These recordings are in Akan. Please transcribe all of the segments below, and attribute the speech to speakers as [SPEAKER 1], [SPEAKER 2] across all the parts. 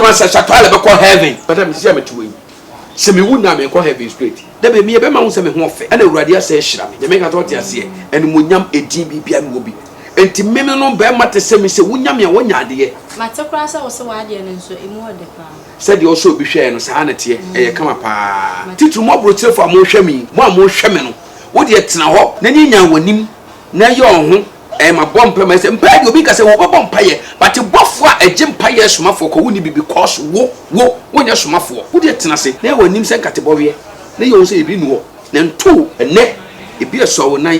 [SPEAKER 1] kwan sɛ sakra na bɛkɔ heaven bɛda me sisi a mete wɔ yi sɛ mewu na menkɔ heaven straight da bɛ meyɛ bɛma ho sɛ me ho ɔfɛ ɛna awurade asɛ ahyira me nyame nka sɛ ɔte aseɛ animonyam ɛdin biribia ne wɔ bi enti meme no bɛma te sɛ me sɛ wonya me a wonya adeɛ mate koraa sɛ wo se
[SPEAKER 2] w'adeɛ no nso ɛmu ɔdɛ paa Sɛdeɛ ɔsɔ obi
[SPEAKER 1] hwɛɛ no, saa ara na ɛteɛ, ɛyɛ kama pa ara. Titiriw mo aburokyirefo a morehwɛ me yi, mo a morehwɛ me no, wo deɛ tena hɔ na nyanyan w'anim na yɛ wo ho ɛɛ ma bɔ mpae ma ɛsɛ mpae deɛ obi nka sɛ wɔbɛbɔ mpaeɛ but bɔfoɔ a ɛgye mpaeɛ somafoɔ kɔ wonni bi because wo wo wonyɛ somafoɔ wo deɛ tena ase na yɛ w'anim sɛ nkatebɔweɛ na yɛ wo ho sɛ biribi nni hɔ na nto wo ɛnnɛ ebi ɛsɔ wo nan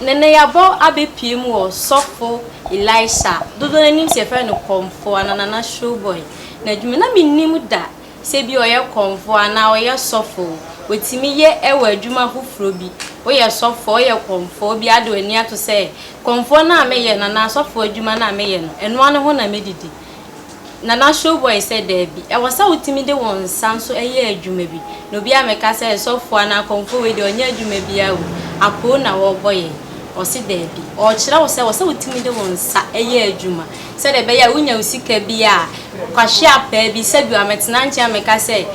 [SPEAKER 2] Neneyabɔ abɛpue mu wɔ sɔfo Elisha, dodoɔ no anim sɛ yɛfrɛ no Kɔmfoɔ anaa Nana Showboy n'adwuma. Na mennim da sɛ ebia ɔyɛ kɔmfoɔ anaa ɔyɛ sɔfo o. Wɔtumi yɛ wɔ adwuma foforɔ bi. Woyɛ sɔfo, woyɛ kɔmfoɔ, wobia wode w'ani ato sɛ kɔmfoɔ no a meyɛ no anaa sɔfo adwuma no a meyɛ no, ɛno ara ne ho na mɛdidi. Nana Showboy sɛ daabi. Ɛwɔ sɛ wotumi de wo nsa nso yɛ adwuma bi. Na obi ammɛka sɛ sɔfo anaa kɔmfo wei deɛ ɔnyɛ adwuma biara o, apoo na wɔrebɔ yɛn. Ɔse daabi. Ɔrekyerɛ wo sɛ ɛwɔ sɛ wotumi de wo nsa yɛ adwuma. Sɛdeɛ ɛbɛyɛ a wonya wo sika bi a, kwahye apaa bi, sɛdeɛ ammɛtena nkyɛn ammɛka sɛ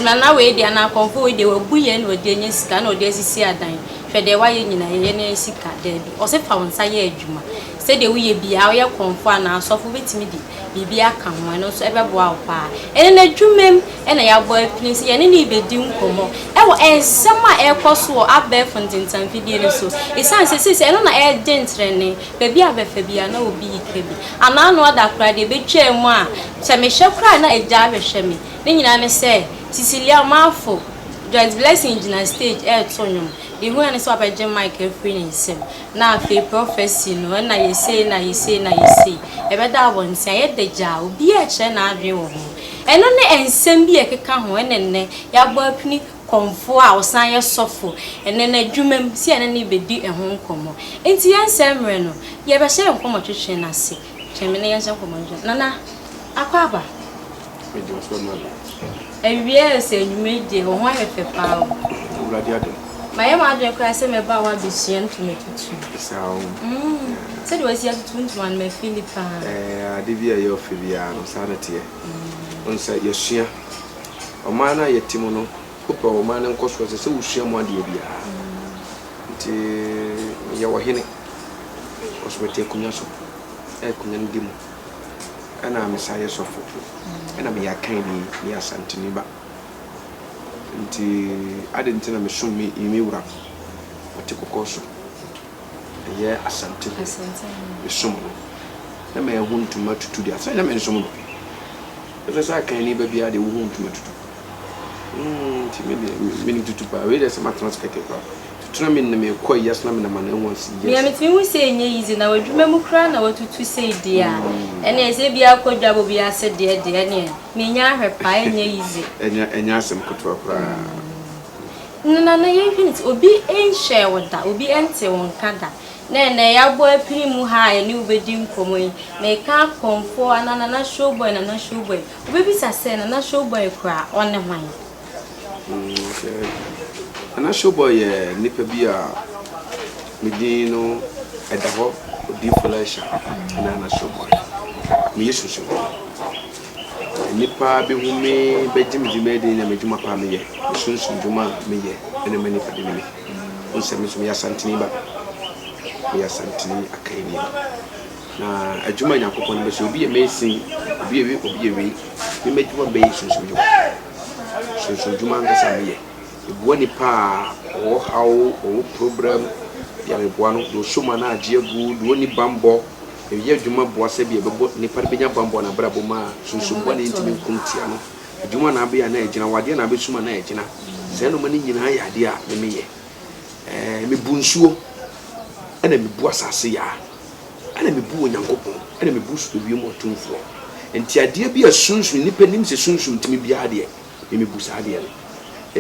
[SPEAKER 2] Nana wei deɛ anaa kɔmfo wei deɛ wabu yɛn na ɔde anya sika na ɔde asisi adan. Hwɛ deɛ wayɛ nyinaa, yɛyɛ na yɛanya sika. Daabi. Ɔse fa wo nsa yɛ adwuma. Sɛdeɛ woyɛ biara, woyɛ korɔmfoɔ anaa asɔfo, wobɛtumi de biribi aka ho, ɛno nso ɛbɛboa wo pa ara. Ɛnnɛ, n'adwuma mu na yɛabɔ apini sɛ yɛne no rebɛdi nkɔmmɔ wɔ nsɛm a ɛrekɔ so wɔ abɛɛfo ntentanfidie no so. Ɛsiane sɛ seesei ɛno na ɛregye ntrɛnee, baabi a bɛfa biara na obi reka bi. Anaa ano ada koraa deɛ, bɛtwaa mu a, sɛ mehwɛ koraa a na agya rehwɛ me. Ne nyinaa ne sɛ, Cecilia Omarfo, Joyce Blessing gyina stage reto nnwom. Deɛ ɛhia ne sɛ wabɛgye mic afiri ne nsam. na afei prɔfɛse no, ɛna yɛ sei na yɛ sei na yɛ sei, yɛbɛda abɔnten a, yɛ dɛ gyaa, obiaa ɛkyerɛ n'adwene wɔ ho. Ɛno ne ɛnsɛm bi a ɛkeka ho, ɛna nnɛ yɛabɔ apini kɔmfoɔ a ɔsan yɛ sɔfo, ɛnɛ n'adwuma mu, sɛ yɛne no rebɛdi ɛho nkɔmmɔ. Nti yɛnsɛe mmerɛ no, yɛbɛhyɛ nkɔmmɔtwetwe no ase, twɛn me na yɛnhyɛ nkɔmmɔtwetwe, Nana Akwaaba. Mede ɔsoro ma no. Awia ayɛ sɛ anwummerɛ yi deɛ, wo ho ayɛ fɛ paa o. Awurade adom.
[SPEAKER 1] Mayɛ m'adwene koraa
[SPEAKER 2] sɛ mɛba a woabɛsua ntoma tutu. Saa o.
[SPEAKER 1] Sɛdeɛ
[SPEAKER 2] wasi atutu wo ntoma no, mafili paa. Ɛɛ, ade bi a
[SPEAKER 1] ɛyɛ ɔfɛ biara no, saa na ɛteɛ. Wohu sɛ yɛasua ɔman no a yɛte mu no, wopɛ ɔman no nkɔsoɔ a, ɛsɛ sɛ wosua mu adeɛ biara. Nti meyɛ ɔhene, nanso mete akonnwa so, a akonnwa no di mu. Ɛna me san yɛ sɔfo. Ɛna meyɛ Akanni, meyɛ Asanteni ba. Nti ade nti na mesom me me wura no, ɔte kɔkɔɔ so. Ɛyɛ Asante ho. Mesom no. Na mahu ntoma tutu deɛ, ansa na mensom no. Ɛsɛ sɛ Akanni ba biara deɛ wohu ntoma tutu. Nti me deɛ menim tutu paa wei deɛ sɛ matena ase kɛkɛ paa tutu na menim mekɔ ayi ase na menam anan mu ase yes. Mea metumi hu sɛ ɛnyɛ yize
[SPEAKER 2] na w'adwuma mu koraa na watutu sei deɛ a mm. ɛneɛ sɛ bia akɔ dwabɔ bi ase deɛ deɛ ɛneɛ menya ahwɛ paa ɛnyɛ yize ɛnyɛ asɛm
[SPEAKER 1] ketewa koraa
[SPEAKER 2] mm. no na na yɛhwene nti obi nhyɛɛ wo da obi nte wo nka da na ɛnɛ yɛabɔ apini mu ha a yɛne wobɛdi nkɔmmɔ yi meka akɔmfoɔ anaa nana showboy nana showboy Wobɛbisa sɛ, Nana Showboy kura
[SPEAKER 1] ɔne hwan? Nana Showboy yɛ nipa bi a ne din no ɛda hɔ, Odiyifo Elisha ne Nana Showboy. Me yɛ Sosofoɔ. Nnipa bɛhu me, bɛgye me di, bɛyɛ den na m'adwuma pa a me yɛ, me sunsum dwuma a me yɛ na ɛma nnipa dene me. Wohu sɛ me nso me yɛ Asanteni ba, me yɛ Asanteni Akanni ba. Na adwuma a Nyankopɔn de bɛhyɛ, obi yɛ mason, obi yɛ wei, obi yɛ wei. Me m'adwuma a mɛyɛ sunsumdwuma. Sunsumdwuma ankasa meyɛ. Meboa nipa a ɔwɔ haw, ɔwɔ problem, deɛ meboa no, deɛ ɔsɔ mu anaa agye agu, deɛ ɔnni bammɔ. Meyɛ adwuma boa sɛ bia ɛbɛbɔ nipa no bɛnya bammɔ n'abrabɔ mu a sunsumdwuma na ɛntumi nko ntia no. Adwuma na abɛyɛ anaa ɛgyina, wadeɛ na abɛsum anaa ɛgyina. Saa nneɛma no nyinaa yɛ adeɛ a me meyɛ. Ɛɛ mebu nsuo ɛna mebu asase yaa. Ɛna mebu Onyankopɔn, ɛna mebu so ewiem ɔtumfoɔ. Nti adeɛ bi a sunsum, nnipa nim sɛ sunsum tumi biara deɛ, me mebu saa adeɛ no.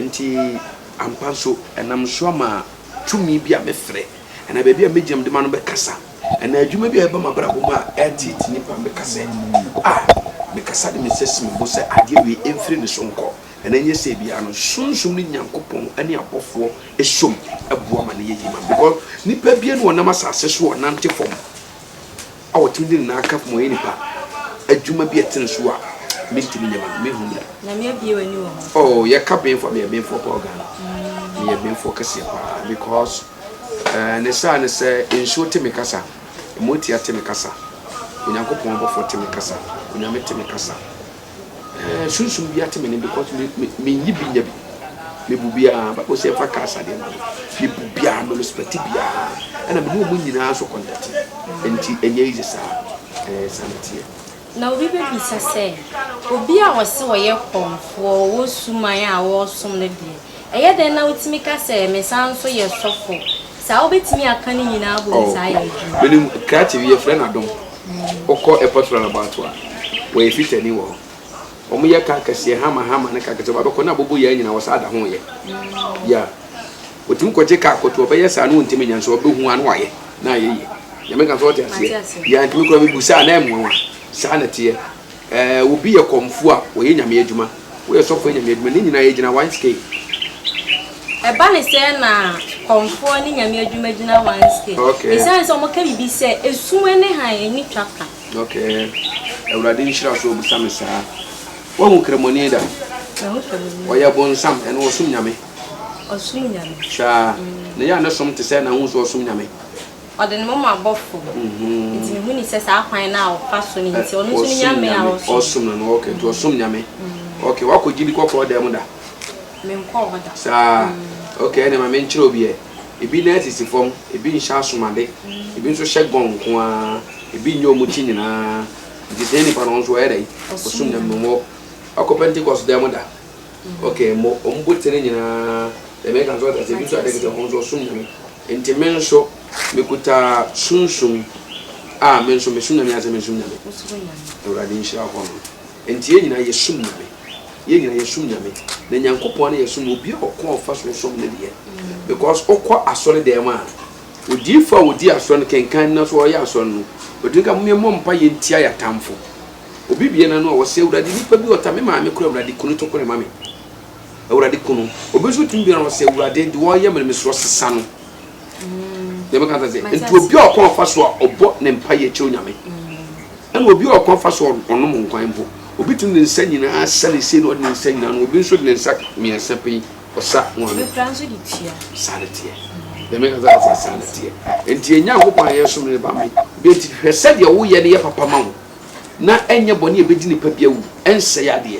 [SPEAKER 1] Nti ampa nso, ɛnam so ama tumi bi a mefrɛ, anaa baabi a megyina mede m'ano bɛkasa, anaa adwuma bi a ɛba m'abrabɔ mu a ɛreteete nnipa, meka sɛ, Ah! Mekasa de me nsa si me bo sɛ adeɛ wei mfiri ne so nkɔ. Ɛna ɛnyɛ sɛ biara no sunsum ne Nyankopɔn ne abɔfoɔ som boa ma no yɛ yie because nipa biara no ɔnam asase so ɔnante fam a ɔtumi de ne nan aka fam ɔyɛ nipa adwuma bi a ɛtene so a mentumi nyɛ ma no mehu no da. Nyame abie
[SPEAKER 2] w'ani wɔ ho. Oh yɛka benfoɔ
[SPEAKER 1] meyɛ benfoɔ paa Ghana meyɛ benfoɔ kɛseɛ paa because uh, ne saa ne sɛ nsuo te me kasa ɛmɔtia te me kasa Onyankopɔn abɔfoɔ te me kasa Onyame te me kasa Eh sunsum bi ate me ne because me me me nyi bi nya bi. Me bu biara bible sɛ ɛfa cars adeɛ ma no. Me bu biara me respect biara. Ɛna me ne wɔn nyinaa so contact. Nti ɛnyɛ easy saa. Eh saa na ɛteɛ. Na obi
[SPEAKER 2] bɛbisa sɛ, obi a ɔse ɔyɛ kɔmfoɔ, ɔwɔ suman a ɔresom no deɛ, ɛyɛ dɛn na wotumi ka sɛ mesan nso yɛ sɔfo? Saa wobɛtumi aka ne nyinaa bɔ mu saa yɛ adwuma. Menim krakye bi
[SPEAKER 1] yɛfrɛ no Adom. Wokɔ airport roundabout a, wɔyɛ fitani wɔ hɔ. Wɔyɛ car kɛseɛ, Hummer, Hummer ne car kɛseɛ. Wɔba bɛkɔ na abobo yɛn nyinaa, wɔsan da ho yɛ. Yeah. Wɔtumi kɔgye car kɔto, wɔbɛyɛ saa na wɔntumi nyɛ nso wɔbɛhu a na wɔayɛ na ayɛ yie. Deɛ meka no so wote aseɛ? Yeah, nti me koraa mebu saa a na ɛyɛ me nwanwa. Saa na ɛteɛ. Eh, obi yɛ kɔmfoɔ a, ɔyɛ Nyame adwuma. Woyɛ sɔfoɔ yɛ Nyame adwuma. Ne nyinaa yɛ gyina one scale.
[SPEAKER 2] Ɛba ne sɛɛ na kɔmfoɔ ne Nyame adwuma gyina one scale. Okay. Esiane sɛ wɔka biribi sɛ, esum ne hann ani twa ka. Okay.
[SPEAKER 1] Awurade nhyira so ɔbisa me saa. Woahu kramoni da? Mahu kramoni. Ɔyɛ bonsam, ɛno ɔsom Nyame? Ɔsom Nyame.
[SPEAKER 2] Saa. Mm. Na
[SPEAKER 1] yɛ a ne som te sɛ na wohu sɛ ɔsom Nyame? Ɔde ne moma
[SPEAKER 2] bɔ fam. Nti mehu ni sɛ saa kwan no a ɔfa so no nti ɔno nso ne nyame a ɔsom. Ɔsom no no ok nti
[SPEAKER 1] ɔsom nyame ok wakɔ gye bi kɔ kɔɔ dan mu da. Menkɔɔ
[SPEAKER 2] hɔ da. Saa
[SPEAKER 1] ok ɛna ma menkyerɛ obi ɛ ebi nan sisi fam ebi nhyɛ asomade ebi nso hyɛ gɔn nko ara ebi nyɛ wɔn ti nyinaa nti saa nipa no ɔno nso ɔyɛ dɛn ɔsom nyame mmɔ wakɔ pentikɔs dan mu da ok mmɔ wɔn botire nyinaa dɛm ɛka nso ɔte ase ebi nso adeɛ kete ɔno nso ɔsom nyame. Nti me nso mekuta sunsum a me nso mesom Nyame ansa mensom Nyame. Awurade nhyira hɔ no. Nti yɛn nyinaa yɛsom Nyame. Yɛn nyinaa yɛsom Nyame. Na Nyankopɔn ne yɛsom no. Obiara ɔkwan a ɔfa so som ne deɛ. Because wokɔ asɔre dɛm a, odiifo a ɔdi asɔre no kenkan na so ɔyɛ asɔre no, ɔtumi ka mom yɛmmɔ mpaeɛ ntia yɛn atamfo. Obi bue n'ano a ɔse Awurade nipa bi ɔta me maame koraa Awurade ku no tokore ma me. Awurade ku no. Obi nso tumi biara ɔsɛ Awurade de wɔyɛ me mesrɛ sesa no. Deɛ meka sɛ sɛ nti obi a ɔkɔn fa so a ɔbɔ ne mpa yɛ kyerɛ Onyame. Ɛna obi a ɔkɔn fa so ɔnom nkwan mpo. Obi tumi de ne nsa nyinaa sa ne sei na ɔde ne nsa nyinaa no. Obi nso de ne nsa mmiɛnsa pɛn ɔsa wɔn. Obi kura nso de
[SPEAKER 2] tua. Saa ne teɛ.
[SPEAKER 1] Deɛ meka sɛ sɛ saa ne teɛ. Nti yɛn Nyankopɔn a yɛsom ne ba me. Deɛ nti hwɛ sɛdeɛ woyɛ no yɛ papa ma wo na ɛnyɛ bɔne a ɛbɛdi nipa bi awu ɛnsɛe adeɛ.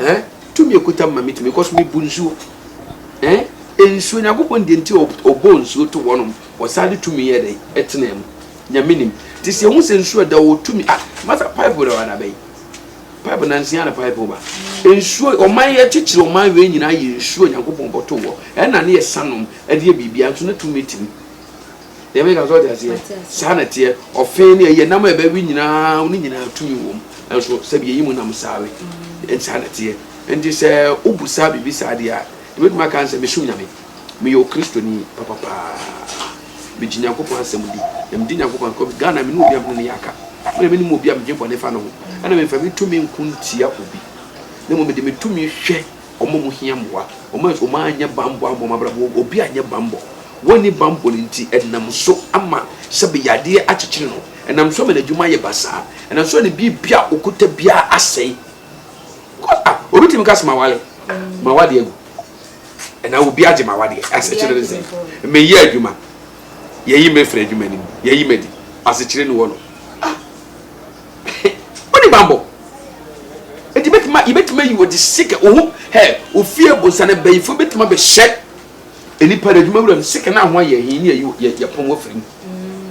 [SPEAKER 1] eh tumi ekuta mu ma mi tumi kɔ so mi bu nsuo eh nsuo nyankopɔn deɛ nti ɔbɔ nsuo to wɔnom ɔsan de tumi yɛ dɛ ɛtena mu nyame nim te sɛ ehu sɛ nsuo ɛda wɔ tumi ah masa pipe da wada bɛyi pipe nansia na pipe ba nsuo ɔman yɛ kyekyere ɔman wei nyinaa yɛ nsuo nyankopɔn bɔto wɔ ɛna ne yɛ sanom ɛde yɛ biribi anso ne tumi timi deɛ meka sɛ ɔde aseɛ saa na teɛ ɔfe ne ɛyɛ nam a ɛbɛwe nyinaa ne nyinaa tumi wɔ mu nanso sɛbi yɛyi mu nam saa we mm. saa na teɛ nti sɛ wobu saa biribi saa deɛ a ɛbɛtumi aka n sɛ mesom nyame meyɛ okristoni papapaa megye nyankopɔn asɛm di na medi nyankopɔn akɔ ghana mene obi a mene ne yɛaka mene mene mu obi a megye bɔne fa no ho ɛna memfa me tumi nko ntia obi na mmom mede me tumi hwɛ Wɔn a wɔhia mmoa. Wɔn a wɔanyɛ bammɔ ammɔ wɔn abrabɔ mu. Obi anyɛ bammɔ. Wanni bammɔ no nti, ɛnam so ama sɛbe yadeɛ akyekyere no. Ɛnam so ama n'adwuma ayɛ basaa. Ɛnam so ama ne biribi a ɔkuta biara asɛe. Because ah, obi tumi ka sɛ mawale, mawadeɛ agu. Ɛnaa obi agye mawadeɛ, asekyere ne sɛn. Meyɛ adwuma, yɛyi me firi adwuma no mu, yɛyi m'adi, asekyere ne wɔ no. Ah, Woni banbɔ. Eti betuma yebetuma yi wodi sika ohu hɛ ofie bonsa na bayifo betuma be hyɛ enipa na adwuma wura no sika na ahoa yɛ hin ne yɛ yɛ pɔn wafiri mu.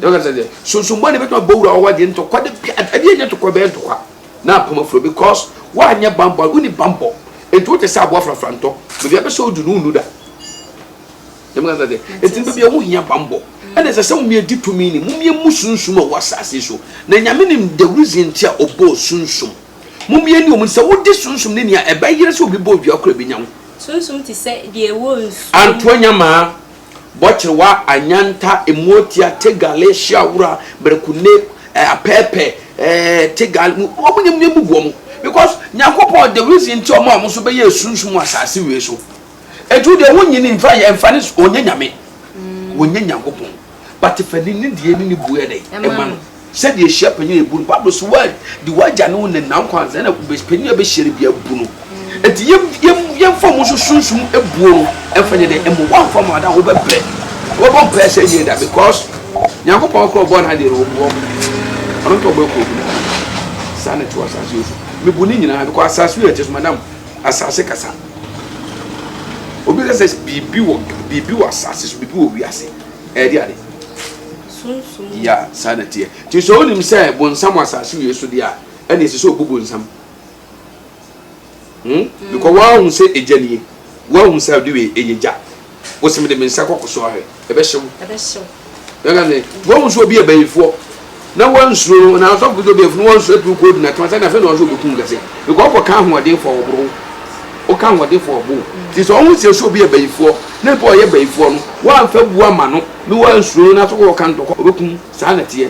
[SPEAKER 1] Yɛ ɔka sɛ sunsun bɔ ne betuma bɔ wura ɔwa deɛ ntɔkwa de bi adeɛ nyɛ ntɔkwa bɛyɛ ntɔkwa na apam afuro because wa nyɛ banbɔ woni banbɔ enti wote sɛ aboa frafra ntɔ baabi abɛsɛ odu no wonu da. Yɛn kasa de. Eti baabi a wɔn hia bambɔ. Ɛna ɛsɛ sɛ wɔn edi tumi ni. Wɔn emu sunsum a ɛwɔ asaase so. Na nyame nim the reason ti a ɔbɔɔ sunsum. Wɔn yɛ ni wɔn sɛ wodi sunsum ne nea ɛbɛyere sɛ obi bɔ odua koro a ebinya wo. Sunsum te sɛ
[SPEAKER 2] deɛ ɛwɔ nsuo mu. Antoa nyamaa,
[SPEAKER 1] bɔkyerewa, anyanta, emuotia, tegale, hyeawura, berekune, eh, apɛɛpɛ, eh, tegal, mu, wɔn nyɛ mu gu wɔn. Because Nyankopɔn the reason ti a wɔn a wɔn nso bɛyɛ sunsum wɔ asaase wei so. Ɛtu deɛ wonyi no nfa yɛ nfa ne so ɔnyɛ nyame ɔnyɛ nyankopɔn but fa ne nidie ne ne buo yɛ dɛn ɛma no sɛdeɛ ɛhyia panyin a ɛbu no bible so wa di wagya ne wo ne na nkwa ansa na panyin a bɛhyia no bia bu no ɛti yɛ yɛ yɛmfa ɔmo nso sunsum buo no ɛmfa nyɛ dɛn ɛmo wamfa mo ada wobɛbrɛ wobɛbɔ mpaeɛ sɛ ɛnyɛ da because nyankopɔn korɔ ɔbɔ no adeɛ no ɔbu ɔmo ɔno nka ɔbɔ ɛkɔ obi na saa na ɛte wɔ asase yɛ so mebu ne nyinaa because asase yɛ ɛte so madam asase kasa. Obi ka sɛ biribi wɔ biribi wɔ asase so, biribi wɔ wiase. Ɛyɛ de ade. Sunsun. Ya saa na teɛ. Ti sɛ onim sɛ bonsam wɔ asase wie so deɛ a, ɛna ɛsɛ sɛ obu bonsam. Hmm? Mm. Because wɔahu sɛ egya nie. Wɔahu sɛ ɔde wei ɛyɛ gya. Wo se mede me nsa kɔ koso ahwɛ, ɛbɛhye wo. Ɛbɛhye wo. Yɛka sɛ, woahu sɛ obi yɛ bayifoɔ na wansuro no, na asɔfo kɔsɛ obi yɛ bayifoɔ na wansuro atu kɔ gyina tena sɛ na afei na ɔsɛ ɔbɛku wo kɛse. Because wokɔka ahoɔdenfoɔ a wɔboro wo. Woka ahoɔdenfoɔ a wɔbo wo. Nti sɛ ɔho sɛ sɛ obi yɛ bayifoɔ na mpo ɔyɛ bayifoɔ no, woamfa bu ama no na wansuro no na so wokɔka ntɔkwa a, ɔbɛku wo. Saa na ɛteɛ.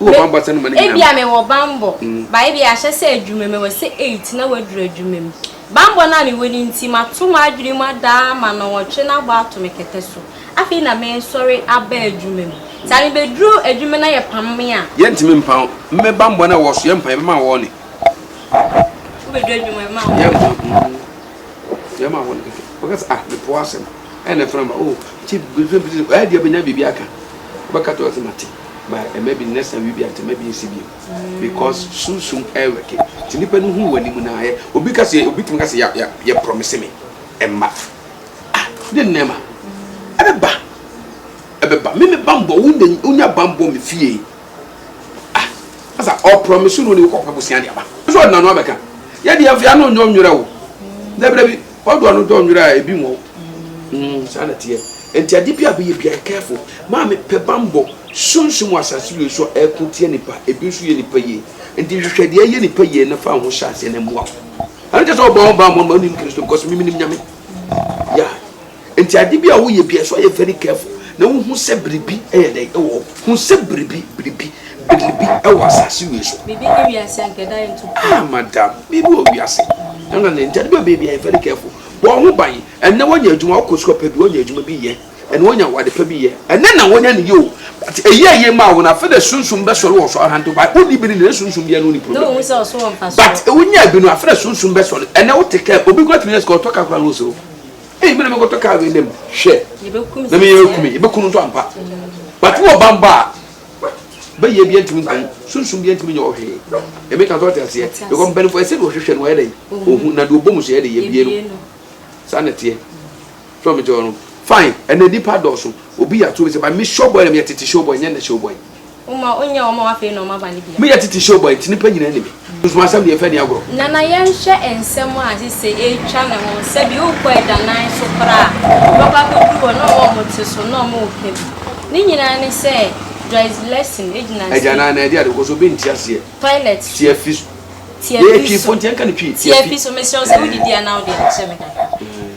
[SPEAKER 1] Wowɔ bammɔ asɛm no ma no nyinaa. Ebia mewɔ bammɔ,
[SPEAKER 2] but ebia ahyɛ sɛ adwumam, ɛwɔ sɛ eight na waduru adwumam. Bammɔ no a mewɔ no nti, mato m'adwene mu ada ama nnɔnwɔtwe no abɔ ato me kɛtɛ so. Afei na meresɔre aba adwumam. Saa no, mebeduru adwuma na yɛpam me a. Yɛntumi mpa wo. Me bammɔ no a ɛwɔ so, yɛmpa, yɛbɛma wo warning. Wobeduru adwuma, yɛbɛma wo warning. Yɛmfa, mm, yɛbɛma wo warning kɛkɛ. Wobɛka sɛ, ah, mepo w'asɛm. Ɛyɛ na ɛfrɛ no ba, oh, nti biribi biribi sɛ, ɛyɛ deɛ bɛnya biribi aka. Wobɛka to ɔsɛ mate, ba ɛma bi next time biribi ate, ma bi nsi bio. Because sunsum ɛwɛke, nti nipa no hu w'anim na ayɛ. Obi ka sɛ, obi tumi ka sɛ ya ya yɛ promise me mma. Ah, ne nneɛma, ɛbɛba, ɛbɛba. Me me bambɔ, wonya wonya bambɔ me fie. Ah, asa, ɔ promise no ne wokɔ pɛ bosea de aba. Nso ɔde n'ano abɛka. Yɛ deɛ afei ano nyɛ ɔnwerɛ wo. Dabi dabi. Ɔdɔ no dɔ nwera a ebi nwɔw. Mm, saa na teɛ. Nti ade bi a bɛyɛ bia, careful. Maa me pɛ bambɔ, sunsum wɔ asase wei so a ɛko tia nipa, ebi nso yɛ nipa yie. Nti hwehwɛ deɛ ɛyɛ nipa yie na fa wo ho hyɛ aseɛ na ɛmoa wo. Ɛno nkyɛ sɛ ɔbɔ ho bambɔ no ma wonim Kristo because me menim Nyame. Yeah. Nti ade bi a woyɛ bia ɛsɛ sɛ ɔyɛ very careful na wohu sɛ biribi ɛyɛ dɛn ɛwɔ hɔ. Hu sɛ biribi, biribi. Biribi wɔ asase wei so. Biribi ne wiase anka ɛda yɛn to. Ah madam, biribi
[SPEAKER 1] wɔ wiase. Ɛno na ne nti ɛde bɛ baabi a yɛ very careful. Bɔ ho ban. Ɛnɛ wɔnya adwuma wɔkɔ sukuu pɛ bi wɔnya adwuma bi yɛ. Ɛnɛ wɔnya awade pɛ bi yɛ. Ɛnɛ na wɔnya ne yɛ o. But eyi a yɛ maa wɔn afɛ dɛ sunsun bɛ sɔre wɔ so ahantew ba. Wodi bi ne ne sunsun bi ɛno ne problem. Dɛ ohun sɛ ɔso wɔ mfaso. But ewu nya bi no afɛ dɛ sunsun bɛ sɔre. Ɛnɛ wote kɛ obi kura tumi yɛ sika ɔtɔ ka kura no osoro. Eyi mi na mi kɔtɔ kaa wei nɛ mu hwɛ. Na mi yɛ ekumi yɛ bɛ kunu nso ampa. But wɔ bambɔ a. bɛ yɛ bia ntumi nka ho sunsum bia ntumi nyɛ hɔ hwee ɛmi ka sɛ ɔte aseɛ because mpanimfoɔ ɛsɛ de ɔhwehwɛ no ɔyɛ dɛ ɔhu na de ɔbɔ mu so yɛ de yɛ bie no saa na teɛ so ɔmo te hɔ no fine ɛnna nipa dɔɔso obi yɛ ato bi sɛ ba mi show boy na mi yɛ tete show boy nyɛ na show boy. Uma onya ɔma wafei na ɔma ba ne bia. Mi yɛ tete show boy nti nipa nyinaa ni mi. Nsumasɛm deɛ ɛfɛ ne agorɔ. Nana yɛnhwɛ nsɛm a sese ɛretwa ne ho sɛ bi wokɔ agyanan so koraa a wobɛkɔ akɔduru hɔ na ɔma ɔmo te so na ɔmo reka bi ne nyinaa ne sɛ Joyce Lesson gyina stage. Agyanan na ɛde ade kɔ so obi nte aseɛ. Toilet so. Tiafi so. Tiafi so. Yɛyɛ Twi fo nti yɛnka no Twi. Tiafi so mesrɛ wo sɛ wodidi a na wode akyɛ me kakra.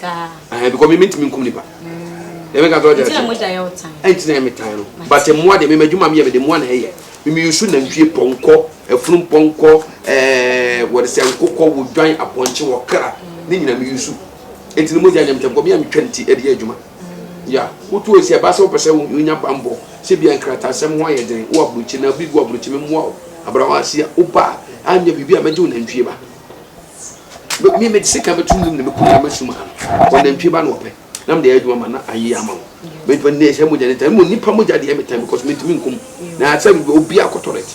[SPEAKER 1] saa because me mentumi nkum nipa ɛmɛ ka tɔɔ jɛrɛsɛ
[SPEAKER 2] ɛnti na ɛmɛ tan no
[SPEAKER 1] but mmoa de mɛmɛ adwuma mi yɛ mɛ de mmoa na ɛyɛ mɛmɛ yusu nantwie pɔnkɔ ɛfunu pɔnkɔ ɛɛ wɔde sɛ nkokɔ wɔ dwan apɔnkye wɔ kra ne nyina mɛ yusu ɛnti na mo gya nyɛ mɛtɛm kɔ mi a mi twɛ nti ɛde yɛ adwuma ya wotu esi ɛba sɛ wopɛsɛ wonya bambɔ sɛ bia nkratasɛm ho ayɛ den wo aburukyi na bi gu aburukyi mɛmoa wo abrawa asia woba a anyɛ biribi a mɛgye wo nantwie ba Me me mede sekan bɛto wim na mɛku nneɛma sum ano ɔnantwie ba na wɔpɛ na mede ayɛ adwuma ma na ayɛ ama wo mɛtuma ne ɛsɛ mogya ne tan mmom nipa mogya deɛ metan because mentumi nkum na sɛ obi akɔtɔ rɛt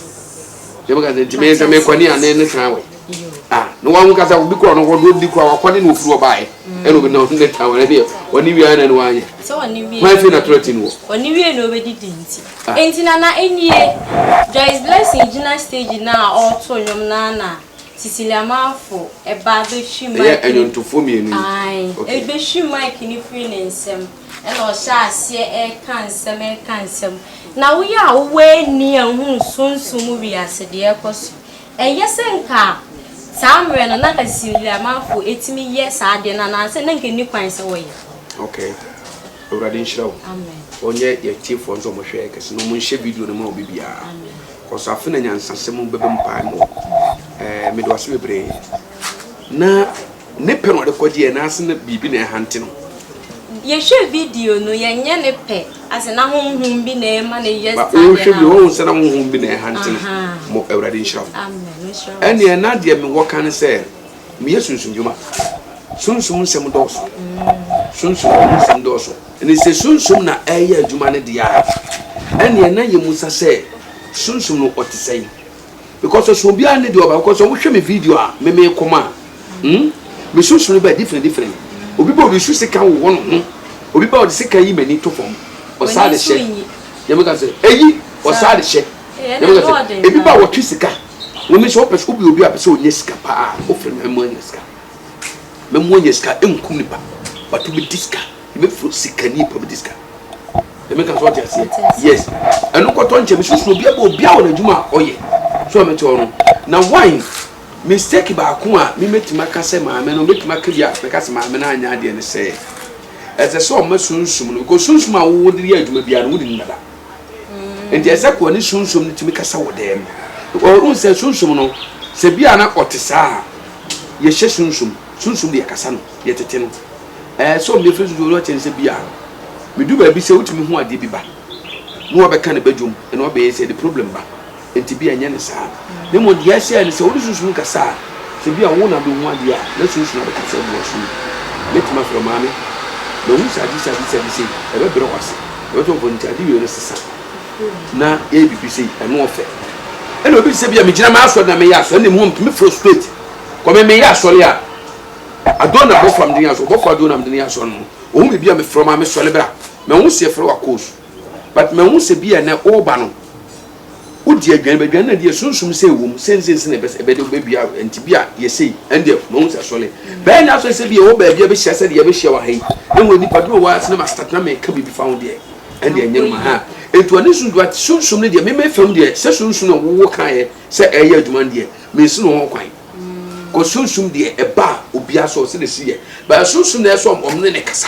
[SPEAKER 1] sɛ meka sɛ nti meyɛ sɛ mekwane a ne ne tan wɔ ah na wɔn kasa obi kura no wɔde odi kura wakɔ ne na ofiri wɔ baayɛ ɛna obi na ɔno ne tan wɔ ɛdeɛ ɔne wia na ne wanyɛ sɛ ɔne wia wɔn afei na
[SPEAKER 2] tɔrɔ ti no wɔ
[SPEAKER 1] ɔne wia na ɔbɛdi
[SPEAKER 2] di nti nti na na enie Joyce Blessing gyina stage na ɔreto nnwom na na Siciliamanfo ba bɛtwi Mike. Ɛyɛ ɛnwontofoɔ mmienu
[SPEAKER 1] yi. Ae. Ok. Ɛbɛtwi
[SPEAKER 2] Mike no firi ne nsam, ɛna ɔhyɛ aseɛ reka nsɛm, reka nsɛm. Na woyɛ a wowɔ ani a wohunu sunsum mu wiase deɛ ɛrekɔ so. Ɛyɛ sɛ nka saa mmerɛ no, na nka Siciliamanfo tumi yɛ saa adeɛ no anaasɛ na nka ɛnni kwan sɛ wɔyɛ. Ok.
[SPEAKER 1] Awurade nhyira wo. Amen. Ɔnyɛ yɛn
[SPEAKER 2] atiefoɔ
[SPEAKER 1] nso wɔn hwɛɛ kɛse, na wɔn nhyɛ video no ma obi biara. Amen. Ɔsafo na nyansasɛm bɛbɛ mpaebɔ. Ɛɛ mede wase bebree. Na ne pɛ na ɔde kɔ deɛ n'ase na biribi na ɛhante no. Yɛhwɛ
[SPEAKER 2] video no yɛnyɛ ne pɛ ase na honhom bi na ɛma no yɛ saa deɛ na ɔhwɛ bi wɔn nsa
[SPEAKER 1] na honhom bi na ɛhante no mo awurade nhyira mo. Amen
[SPEAKER 2] nhyira mo. Ɛneɛ na deɛ me wɔ
[SPEAKER 1] ka ne sɛ meyɛ sunsum dwuma sunsum nsɛm dɔɔso sunsum nsɛm dɔɔso. Ne sɛ Sunsum na ɛreyɛ adwuma no deɛ a, ɛnneɛ na yɛmmisa sɛ, Sunsum no ɔte sɛn? Because ɔsɛ obiara nne deɛ ɔba, because sɛ wohwɛ me video a me mekɔm a, hmm, me Sunsum no bɛyɛ different different. Obi ba ɔresu sekan wowɔ ne ho, obi ba ɔde sekan yi m'ani to fam, ɔsaa de hyɛ, deɛ meka sɛ, ɛyi, ɔsaa de hyɛ, deɛ meka sɛ, ebi ba a wɔtwe sika, wɔn nso wɔpɛ sɛ, wobɛyɛ obi a ɔpɛ sɛ ɔnya sika paa, wofrɛ no, ɛma ɔnya sika. Mɛma wanya sika nkum nipa. Watumi di sika. Yɛbɛfiri sikani pa bi di sika. Ɛmi nka so ɔte aseɛ. Yes. Ɛno kɔtɔ nkyɛn mi susu obi abɔ obi a wɔn adwuma a ɔyɛ. So ɛmi tɔɔ no. Na wine mistake baako a mi mɛtumi aka sɛ maame no mɛtumi aka bi a mɛka sɛ maame no anyɛ adeɛ ne sɛ ɛsɛ sɛ ɔma sunsum no because sunsum a wɔde yɛ adwuma biara no wɔn de nim dada. nti ɛsɛ kɔ ne sunsum no tumi kasa wɔ dɛm ɔhu sɛ sunsum no sɛ bi a na ɔte saa a yɛhyɛ sunsum sunsum deɛ kasa no yɛtete no ɛɛ sɛ ɔmo yɛfiri sunsum no ɔkyɛn sɛ bi a medu baabi sɛ wotumi ho adeɛ bi ba na ɔbɛka ne badwom ɛna ɔbɛyɛ sɛ de problem ba Enti ebia ɛnyɛ no saa, na mmom deɛ ɛsɛ ne sɛ wode sunsum kasa a, sɛ ebia wo na bɛhu adeɛ a, na sunsum abɛka sɛ, Bua sum. Mɛtumi afrɛ wo maame. Mahu sɛ ade sei, ade sei, ade sei. Ɛbɛbrɛ wo ase. Ɛbɛto wo fo. Ntadeɛ wei resesa, na yɛyɛ biribi sei, ɛno ɔfɛ. Ɛnna obi te sɛ ebia megyina m'asɔre na meyɛ asɔre, ɛnna mmom tumi frɛ wo straight. Kɔ me meyɛ asɔre a, Adona bɔfo a mede no yɛ asɔre, ɔbɔfo Adona a mede no yɛ asɔre no, ɔhu me bi a mefrɛ wo maame, sɔre bra. Manhu sɛ yɛfrɛ wo Akoosu, but mahu sɛ ebia nnɛ woreba no, Wodi aduane bi, aduane na di yɛ sunsum sɛ ɛwɔ mu, sɛ nse nse na ɛbɛ ɛbɛ de bɛdua nti bi a yɛsei, ɛn deɛ mahu sɛ sɔle. Bɛyɛ na afei sɛ bi yɛwɔ baabi a bɛhyia sɛdeɛ yɛbɛhyia wɔ ha yi, na wɔ nnipa dom a wɔwɔ ha sɛ na mastart na meka biribi fa ho deɛ, ɛn deɛ ɛnyɛ noma haa. Nti ɔne sunsum, but sunsum no deɛ me me fam deɛ, sɛ sunsum na wo wo kaeɛ sɛ ɛreyɛ adwuma no deɛ, mensi no ho kwan. Cos sunsum deɛ ɛba a obiara so, sɛdeɛ ɛsi yɛ, but sunsum na ɛsɛ sɛ wɔn ne no kasa.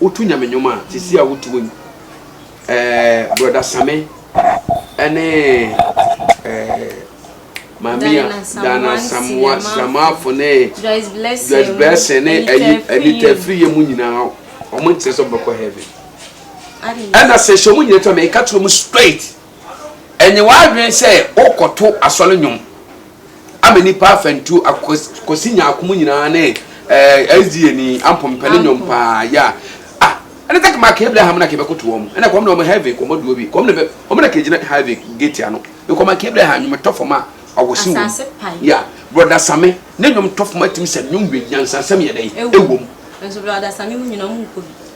[SPEAKER 1] Wotu nyame nwom a te se a wotu yi ɛɛ brɔda same ɛne ɛɛ maame a Diana Samoa Sramaafo ne Joyce Blessing ne ɛyi Anita Afiriye mu nyinaa wɔn nkyerɛ sɛ wɔbɛkɔ heaven ɛna sɛ hyɛ wɔn nyinaa twa mɛ ɛka kyerɛ wɔn straight ɛnyɛ w'adwene sɛ wokɔto asɔre nwom. Ama nnipa afa ntuo akos, kosi nyaakom nyinaa ne eh, SDA ni ampo mpɛ ne nyom paa ya. Ah, ɛne sɛ kama ka Abraham na kebe koto wɔn. Ɛna kɔm na wɔn heaven kɔm duo bi. Kɔm na bɛ, wɔn na kegyina heaven gate ano. Ne kɔm ka Abraham nyom tɔ fam a awɔsi wɔm. Asase pae. Ya, brɔda Same, ne nyom tɔ fam atim sɛ nyom wie nyansasɛm yɛ dɛn ɛwom. Ɛwom. Nso
[SPEAKER 2] brɔda Same mu nyina wɔn nkɔ bi.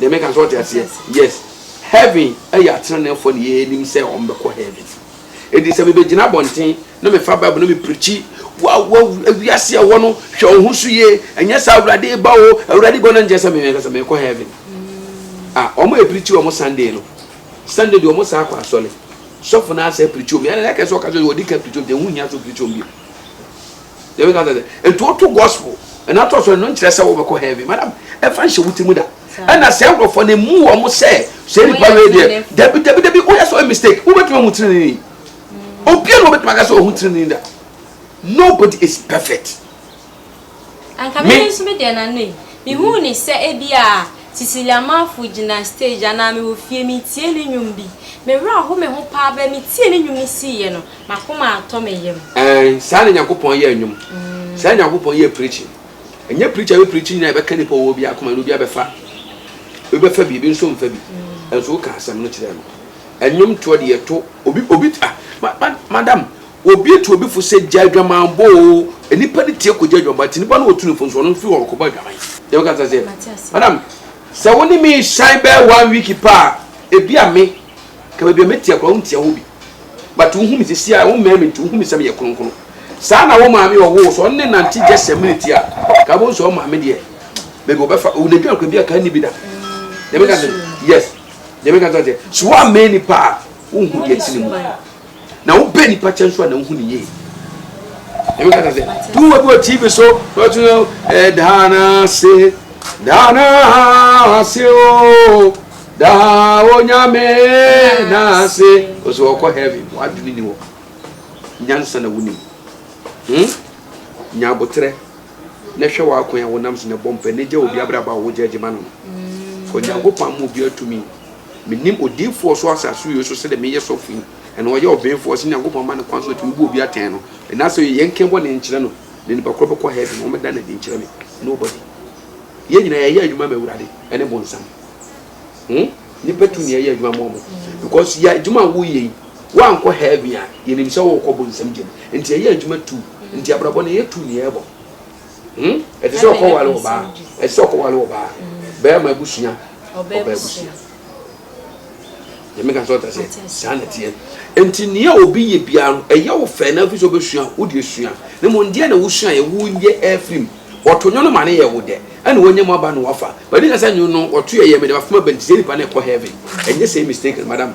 [SPEAKER 2] deɛ meka nso ɔte aseɛ
[SPEAKER 1] yes heaven ɛyɛ ateneneefoɔ ne yɛnim sɛ wɔn bɛkɔ heaven ɛdi sɛ mebɛgyina abɔnten na mefa bible na meprikyi wiase ɛwɔ no hwɛ wo ho so yie ɛnyɛ sɛ awurade ba o awurade ba o na nkyɛ sɛ memeka sɛ mekɔ heaven mm. a wɔn yɛ prikyi wɔn sunday no sunday deɛ wɔn saa kɔ asɔre sɔfo no asɛ prikyi wɔn yɛn na ɛkɛ sɛ ɔka sɛ wɔde ka prikyi wɔn deɛ ho hia sɛ prikyi wɔn bio yɛbɛ ka sɛ nti woto gospel ɛna tɔ so ɛno nkyerɛ sɛ wobɛkɔ heaven madam ɛfa nhyɛ wo ti mu da ɛna sɛ nkurɔfoɔ no mu wɔn sɛ sɛ nipa wei deɛ dabi dabi dabi woyɛ sɛ ɔyɛ mistake wobɛtumi ahu tirinini obia na wobɛtumi aka sɛ ɔhu tirinini da nobody is perfect
[SPEAKER 2] anka me nso me deɛ nano yi mehu ne sɛ ebi a Cecilia Amanfo gyina stage anaa mewɔ fie metie ne nnwom bi me werɛ aho me ho paa bɛɛ metie ne nnwom no siiɛ no M'akoma atɔ me yam. Ɛɛn, saa na Nyankopɔn yɛ
[SPEAKER 1] nnwom. Saa na Nyankopɔn yɛ preaching. Ɛnyɛ preacher a ɔbɛpreachi nyinaa na ɛbɛka nnipa a ɔwɔ bi akoma no, obiara bɛfa. Ebi bɛfa bi, ebi nso remfa bi. Nanso woka asɛm no kyerɛ no. Nnwomtoɔ deɛ yɛto, obi, obi, ah, ma, ma, madam, obi tu obi fo sɛ gya adwamanbɔ o, nnipa no tie kɔgya adwamanbɔ, nti nnipa no wɔtu no fo nso ɔno nso firi hɔ ɔkɔbɔ adwaman. Deɛ woka kyerɛ sɛ, madam, sɛ wo ne me resan bɛyɛ one week pɛ a, ebi a me, Ka baabi a meteɛ koraa wonteɛ hɔ bi, but wohu me sisi a wommɛn me nti wohu me sɛ meyɛ kronkron. Saa na wo maame a ɔwoo wo sɛ ɔne ne nante just a minute a ka wobɛhu sɛ wo maame deɛ baabi ɔbɛfa wo n'adwuma kora bi a ka nni bi da. Deɛ meka sɛ yes deɛ meka sɛ ɔteɛ so woammɛn nipa a wonhu deɛ ɛte ne mu. Na wo bɛ nipa kyɛn so a na wohu ne yie. Ebi kasa sɛ, tu wo bi wɔ TV so, wɔ tu no, ɛdaana se, daana se o, daa onyame na se, ɔsɛ ɔkɔ heaven, wadwene ni wɔ, nyansa na wonim. Hmm? Nya abotrɛ, na hwɛ w'akwan a wonam so na ɛbɔ mpɛ, na gya obi abraba a wogya agyima no no. Fɔ Nyankopɔn ama obi atumi. Menim odiyifoɔ so asase wei so sɛdeɛ meyɛ sɔfo yi, ɛna ɔyɛ ɔbenfoɔ, sɛ Nyankopɔn ma no kwan so ɔtumi bu obi atɛn no, ɛna sɛ yɛ nka bɔne nkyerɛ no, ne nipa korɔ bɛkɔ heaven, wɔn bɛda no adi nkyerɛ me, nobody, yɛn nyinaa yɛyɛ adwuma ma Awurade ɛne bonsam, hmm, nipa tumi ɛyɛ adwuma ma wɔn, because yɛ adwuma a woyɛ yi, woankɔ heaven a, yɛnim sɛ wokɔ bonsam gyam, nti ɛyɛ adwuma tu, nti abrabɔ no ɛyɛ tu ne yɛbɔ. Hmm? Ɛte sɛ ɔkɔwale wɔ baa. Ɛte sɛ ɔkɔwale wɔ baa. Bɛrima abusua. Ɔbaa abusua. Yɛmi kan sɛ ɔta sɛ saa na teɛ. Nti nea obi yɛ biara no ɛyɛ wo fɛ na afiri sɛ ɔbɛsua wo deɛ sua. Ne mu ndeɛ na wosua yɛ wo yɛ afiri mu. Wɔto nwono ma ne yɛ wo dɛ. Ɛna wɔnyɛ mu aba na wafa. Bɛdi na sɛ nwono no wɔto yɛ yɛ me dɛ bafoma bɛnti sɛ nipa na ɛkɔ heaven. Ɛnyɛ sɛ mistake madam.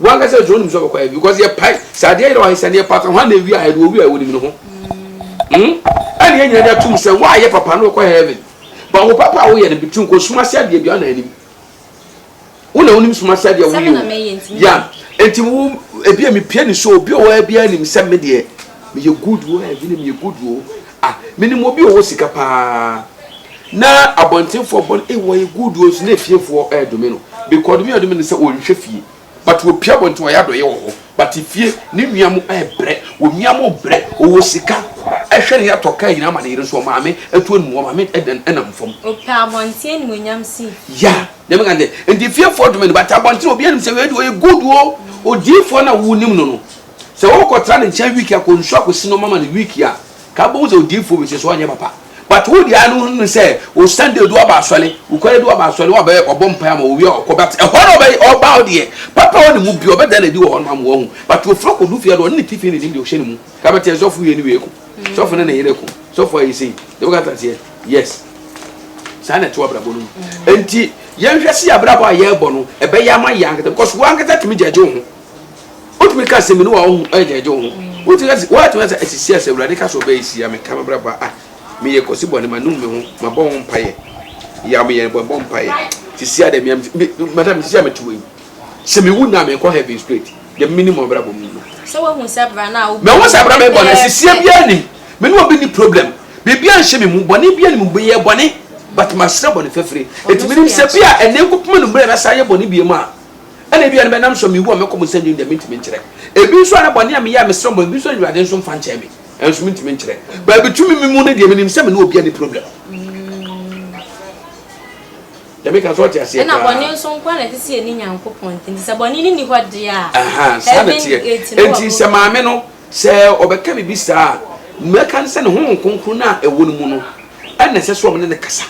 [SPEAKER 1] Wankasa dze onim so ɔbɔkɔ ayɛ because yɛ pae sɛ adeɛ yerɛ ɔahe sɛ ne yɛ pata hwan na ewia ayɛ do ɔwia a onim no ho hmm ɛna yɛ nyina de atum sɛ wa yɛ papa no ɔkɔ heaven but wo papa a wo yɛ no betumi nkɔ sum ase adeɛ bia na anim wo na onim sum ase adeɛ wo yɛ o ya enti wo ebi a mepie ne so obi ɔwɔ bia nim sɛ me deɛ meyɛ good wo heaven meyɛ good wo Ah menim obi ɔwɔ sika paa na abɔntenfoɔ bɔ no ei wɔyɛ good o nso na efiefoɔ ɛredome no because ɔdome a ɔdome no sɛ ɔnhwɛ fie but ɔpie abɔnten ɔyɛ adɔyɛ wɔ hɔ but fie ne nua mo ɛrebrɛ wɔn nua mo brɛ ɔwɔ sika ɛhwɛ ne yɛatɔ kaa nyinaa ma ne yere nso ɔmaame ɛtu anum ɔmaame ɛdɛn ɛnam fam. Ɔpɛ abɔnten
[SPEAKER 2] animuonyam sin. Ya deɛ meka ne
[SPEAKER 1] sɛ nti efiefoɔ dome no but abɔnten obiara nim sɛ wei deɛ ɔyɛ good o odiyifoɔ no a wonim no no. Sɛ wo kɔ tra ne nkyɛn week akɔ nsu akɔsi no mama no week a ka wobɛhu sɛ odiyifoɔ wei sɛ so anyɛ papa but wo deɛ ano hunu sɛ wo Sunday du aba asɔre wo kɔyɛ du aba asɔre wa bɛyɛ ɔbɔ mpae ama owie a ɔkɔ but ɛhɔ no ɔbɛyɛ ɔba wo deɛ papa wɔ ne mu bi ɔbɛda na di wɔ hɔ no ama wahu but ofiri ɔkɔ du fie deɛ ɔne ne tifi ne nim deɛ ɔhyɛ ne mu ka bɛtɛ sɔfo yɛ ne wie ko sɔfo ne ne yere ko sɔfo ayɛ sei deɛ bɛka taseɛ yes saa na ɛte wabrabɔ no mu enti yɛnhwɛ se yɛ abrabɔ a yɛrebɔ no ɛbɛyɛ ama yɛ ankata because wo ankata tumi gyagye wo ho wotumi ka sɛ mene wa wohu ɛgyɛgye wo ho wotumi ka sɛ woatumi sɛ asisi asɛ awurade ka sɛ ɔbɛyɛ sia me ka mabrabɔ a ah, meyɛ kɔsi bɔne ma nom me ho mabɔ ho mpaeɛ yam yɛ bɔbɔ mpaeɛ sisi adɛ meyam madam sisi a mete wei sɛ mewu na mekɔ heaven straight deɛ menim mabrabɔ mu no sɛ woahu sɛ
[SPEAKER 2] bra no a wobɔ mehu sɛ bra mebɔ no
[SPEAKER 1] asisie biara nim me ne obi ni problem biribia nhyɛ me mu bɔne bia nim bɛyɛ bɔne but masrɛ bɔne fafire ɛtumi nim sɛ bia ɛnɛ nkɔpema no mmerɛ na saa yɛ bɔne bia mu a Ɛna ebia no bɛnam so mewu a mɛkɔ mu sɛ ndwom deɛ mentumi nkyerɛ. Ebi nso a na bɔne a meyɛ a mesrɛ bɔ ebi nso a Awurade nso mfa nkyɛɛ me nso mentumi nkyerɛ. Baabi tumi me mu no deɛ menim sɛ me ne obiara nni problem. Deɛ meka no so ɔte aseɛ paa. Ɛna bɔne nso nko ara na ɛte
[SPEAKER 2] sɛ yɛne Nyankopɔn ntam nti sɛ bɔne no nni hɔ deɛ a heaven gate no wɔ
[SPEAKER 1] broken. Nti sɛ maame no sɛ ɔbɛka biribi saa a mɛka no sɛ ne Honhom Kronkron no a ɛwɔ no mu no ɛna ɛsɛ sɛ ɔmo ne no kasa.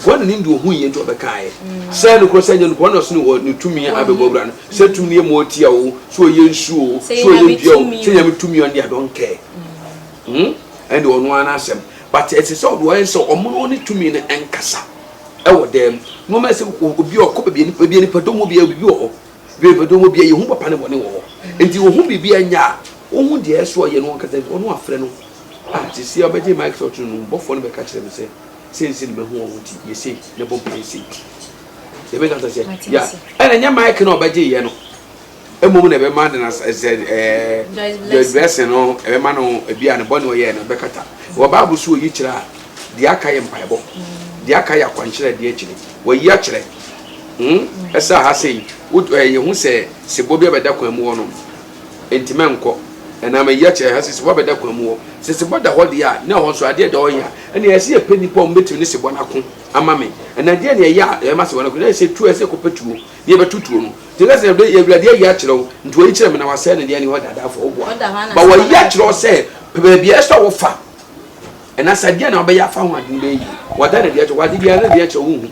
[SPEAKER 1] Hwan na ne ndi ohu yie nti ɔbɛkaeɛ? Sɛ nokorɛ sɛ ɛnyɛ nokorɛ, ɔno na ɔsene wɔ ne tumi a abɛbɔ awura no, sɛ tumi no yɛ mmoa tia oo, sɛ ɔyɛ nsuo oo, sɛ ɔyɛ dua oo, sɛ Nyame tumi ɔno deɛ I don't care. Hmm? Ɛnde ɔno ara n'asɛm. But ɛsɛ sɛ ɔde ɔyɛ sɛ ɔmo ne ɔne tumi no nkasa ɛwɔ dan mu. Nnoɔma ɛsɛ obi a ɔkɔ baabi a baabi a nipa dɔm wɔ biara biribi wɔ hɔ. Baabi a nipa dɔm wɔ biara yɛhu papa ne bɔne wɔ hɔ. Nti ohu biribi a ɛnyɛ a, ohu deɛ ɛsɛ sɛ ɔyɛ na ɔnkasa nti ɔno wafrɛ no. Ah, seesei a ɔbɛgye mic slot no no, bɔfoɔ no bɛka kyerɛ me sɛ. sɛ nsi no bɛhu wɔn ho ti yɛ sei na ɛbɔ mpaeɛ sei yɛbɛka sɛ sɛ ya ɛna nyɛ mike na ɔbɛgye yɛ no mmom na ɛbɛma de na sɛ ɛɛ joyce blessing no ɛbɛma no ebi a ne bɔ ne ɔyɛ no ɛbɛkata wɔ baabu so oyi kyerɛ a deɛ aka yɛ mpaebɔ deɛ aka yɛ akwankyerɛ deɛ akyire wɔyi akyerɛ hmm ɛsɛ aha sɛ yi ɛyɛ ho sɛ sɛ bɔ bi abɛda kwan mu hɔ no. Enti mɛnkɔ. Ɛnam eyi akyi a, ɛsɛ sɛ sebɔ bɛda kwan mu hɔ. Sɛ sebɔ da hɔ deɛ a, na ɛhɔ nso adeɛ a ɛda hɔ hia. Ɛnna ɛsɛ sɛ yɛpɛ nnipa a wɔbɛtumi ne sebɔ no ako ama me. Ɛnna deɛn na ɛyɛ a ɛma sebɔ no ko? Na ɛyɛ sɛ tuo a ɛsɛ sɛ yɛkɔpɛ tuo na yɛbɛto tuo no. Enti ɛka sɛ, Yɛn Awurade ayi akyerɛ wo, nti wayi kyerɛ me na wasɛe no deɛ ɛnni hɔ da, daa fa wo bo a. Ba wayi akyerɛ wo sɛ, pɛ baabi a ɛsɛ sɛ wofa, ɛnna sɛ adeɛ a na wobɛyɛ afa ho ade no bɛyɛ yie. Wada no adi akyerɛ wo, wɔ ade biara no adi akyerɛ wo, wonhu.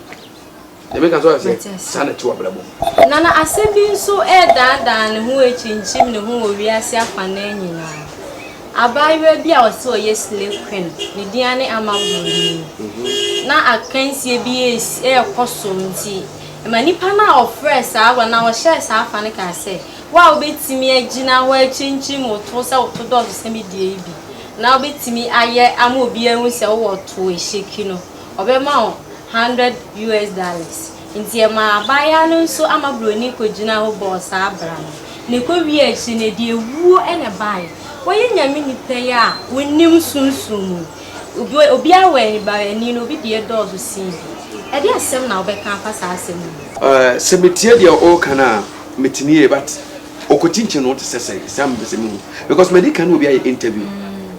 [SPEAKER 1] Deɛ meka so ate aseɛ? Saa na ɛte wɔ abrabɔ mu. Na na asɛm bi
[SPEAKER 2] nso redaadaa ne ho rekyinkyim ne ho wɔ wiase afanan nyinaa. Abaayewa bi a wɔse ɔyɛ Slay Queen, ne din ara ne Ama Buroni. Na akansie bi resi, rekɔ so nti, ɛma nipa no a ɔfrɛɛ saa agorɔ anaa ɔhyɛɛ saa afa no kaa sɛ, Wo a wobɛtumi agyina hɔ akyinkyim wo to sɛ wo to dɔɔso sɛ me deɛ yi bi, na wobɛtumi ayɛ ama obiara ahu sɛ wowɔ to, ehyeki no. ɔbɛma wo hundred US dollars. Nti ɛmaa abaayaa no nso ama broni kɔgyinaa hɔ bɔɔ saa bra no. Na ɛkɔwiee akyire no, ɛde awuo na ɛbaeɛ. Wɔyɛ Nyame nipa yi a wonnim sunsum mu. Obi obiara wɔ anibarani na obi deɛ dɔɔso sen bi. Ɛdeɛ asɛm na wobɛka afa saa asɛm yi ho? Eh, sɛ metie
[SPEAKER 1] deɛ woreka no a, metene yie, but ɔkɔkyinkyin no te sɛ sɛn? Saa na mepɛ sɛ mehu, because madi kan ne obi ayɛ interview.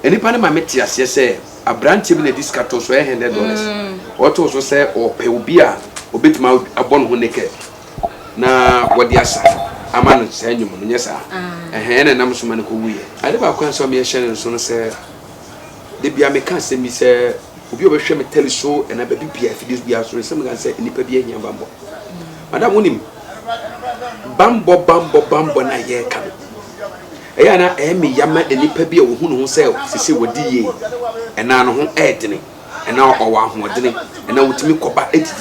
[SPEAKER 1] Nipa no ma mete aseɛ sɛ Aberanteɛ bi na ɛdi sika tɔ so ɛyɛ hundred dollars ɔtɔ so sɛ ɔpɛ obi a ɔbɛtumi abɔ ne ho naked na wɔde asa ama no saa nnwom no nyɛ saa ɛhɛn na ɛnam so ma no kɔwuiɛ. Ade baako a nso meɛhyɛ no nso no sɛ da bia meka asɛm bi sɛ obi a ɔbɛhwɛ me tele so ɛna baabi bia afidie biara so no sɛ meka sɛ nnipa bi ahia bammɔ madam wonim bammɔ bammɔ bammɔ no a yɛreka no Ɛyɛ a na ɛyɛ me ya ma nnipa bi a wɔhu ne ho sɛ seesei wadi yie anaa ne ho yɛ dene anaa ɔwɔ ahoɔdene anaa ɔtumi kɔba didi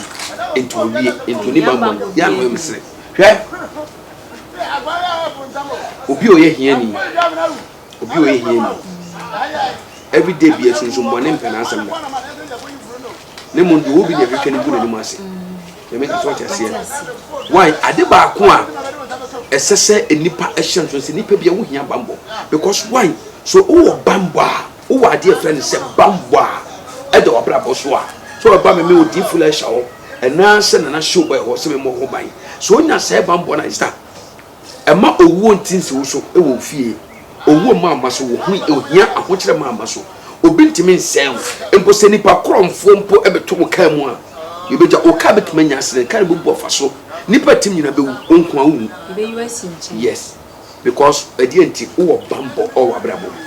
[SPEAKER 1] nti ɔwie nti ɔnni bammɔ no yɛ a na ɔyɛ me sere. Hwɛ obi a ɔyɛ hiani, obi a ɔyɛ hiani everyday bia sunsum bɔne mpɛ n'asɛm da. na mmom deɛ obi deɛ hwehwɛ no gu n'anim ase nyame ka so ɔte aseɛ why ade baako a ɛsɛ sɛ nnipa ɛhyɛ nso sɛ nnipa bi a wohia bambɔ because why so wowɔ bambɔ a wowɔ adeɛ frɛ no sɛ bambɔ a ɛda wabrabɔ so a so ɔba me me odi fula ɛhyɛ hɔ ɛnaa sɛ nana show ɛwɔ sɛ me mmɔ ho ban so onya sɛ bambɔ na ɛsa Mma owuo ntinsi wo so wɔ wo fie. Owuo mma mma so wɔ ho ohia, ahokyerɛ mma mma so. Obi ntumi nsɛe wo. Mpo sɛ nnipa korɔnfoɔ mpo bɛto wo kaa mu a, deɛ ɔbɛgya wo kaa bɛtumi anya asene. Kaa no bɛbu afa so. Nnipa a ɛtim nyinaa bɛwu, wo nko ara wowu. Ɛbɛyi wo asi nkyɛn.
[SPEAKER 2] Yes, because
[SPEAKER 1] ɛdeɛn nti? Wowɔ bammɔ wɔ w'abrabɔ mu.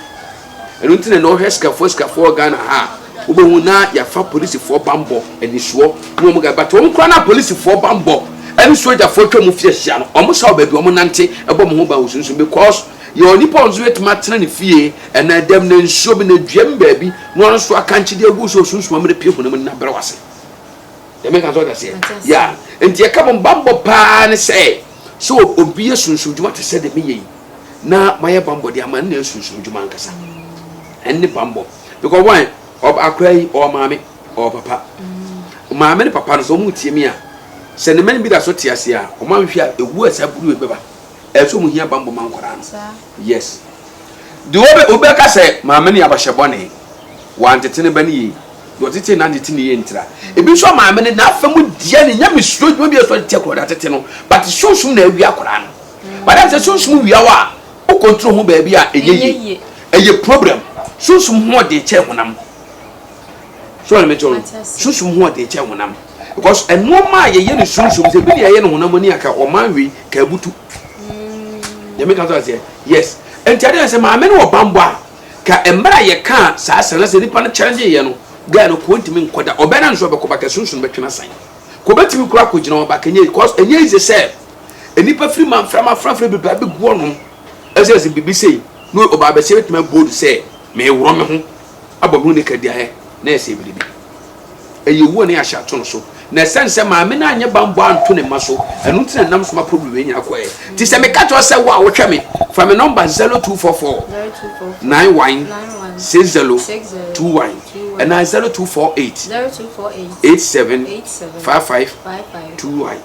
[SPEAKER 1] Ɛno nti na ɛnɛ wohwɛ sikafoɔ asikafoɔ wɔ Ghana ha a, wobɛhu na yɛafa polisifoɔ bammɔ anisoɔ ne wɔn guy. But wɔn koraa no a polisifoɔ bammɔ ɛne sogyafoɔ atwa mu fi ahyia no, wɔn sa wɔ baabi wɔn nante ɛbɔ mo ho ban wɔ sunsum because yɛwɔ nipa wɔn nso yɛtumi atena ne fie ɛnɛ dɛm na nsuo bi na dua mu baabi na wɔn nso akankye de agu so wɔ sunsum amina pie honam nna brɛ wase. Yɛmɛ kan sɛ ɔda seɛ. Yeah. Nti yɛka mo bammɔ paa ne sɛ sɛ obi yɛ sunsum dwuma te sɛ de meyɛ yi. na mayɛ bambɔ de ama no na ɛsunsum dwuma ankasa ɛne bambɔ because wɔn ɔb akora yi ɔwɔ maame ɔwɔ papa mm. maame ne papa no sɛ wɔn tie mi a sɛ ne mɛn bi da so te ase a wɔn ahwehwɛ a ewu a saa buru ebi bɛba ɛso wɔn hia bambɔ ma nkɔraa no yes de wɔbɛ wɔbɛka sɛ maame ne abahyɛ bɔne wɔantete ne ba ne yie deɛ ɔtete na ntete ne yie ntira mm. ebi nso maame ne n'afɛ mu deɛ ne nyame suro dwuma bi ɛsɔ de te akɔrɔ de atete no but sunsun na awi akɔraa no. Madam sɛ sunsum wia wo a wo control ho baabi a ɛnyɛ yie ɛyɛ problem sunsum ho ɔden kyɛn honam so ɔne mɛtɔ no sunsum ho ɔden kyɛn honam because ɛnoɔma a yɛyɛ no sunsum sɛ bi ne yɛyɛ no honam ani anka ɔman wei ka abutu yɛ meka so aseɛ yes ɛnti adeɛ sɛ maame no wɔ bambɔ a ka mmerɛ a yɛka saa sɛ na sɛ nipa no challenge yɛ no guy no kɔɔ ntumi nkɔda ɔbɛn na nso ɔbɛkɔ ba ka sunsum bɛtwena san kɔbɛtumi kora kɔgyina ɔba ka nyɛ because ɛnyɛ easy sɛ Nnipa firi manframa afrafra bebree abɛgu ɔnom ɛsɛ sɛ biribi sei ne ɔbaa bɛsɛ bɛtumi abold sɛ meeworɔ me ho abɔ me ho nika diaɛ na ɛsɛ biribi ɛyɛ owuo ne ahyɛ ato no so na ɛsɛne sɛ maame no anyɛ banbɔ anto ne mma so ɛno nti na nam soma problem wei nyina kɔɛ ti sɛ meka kyerɛ sɛ wo a wohwɛ me fa me nɔmba 0244 916021 ɛna 0248 875521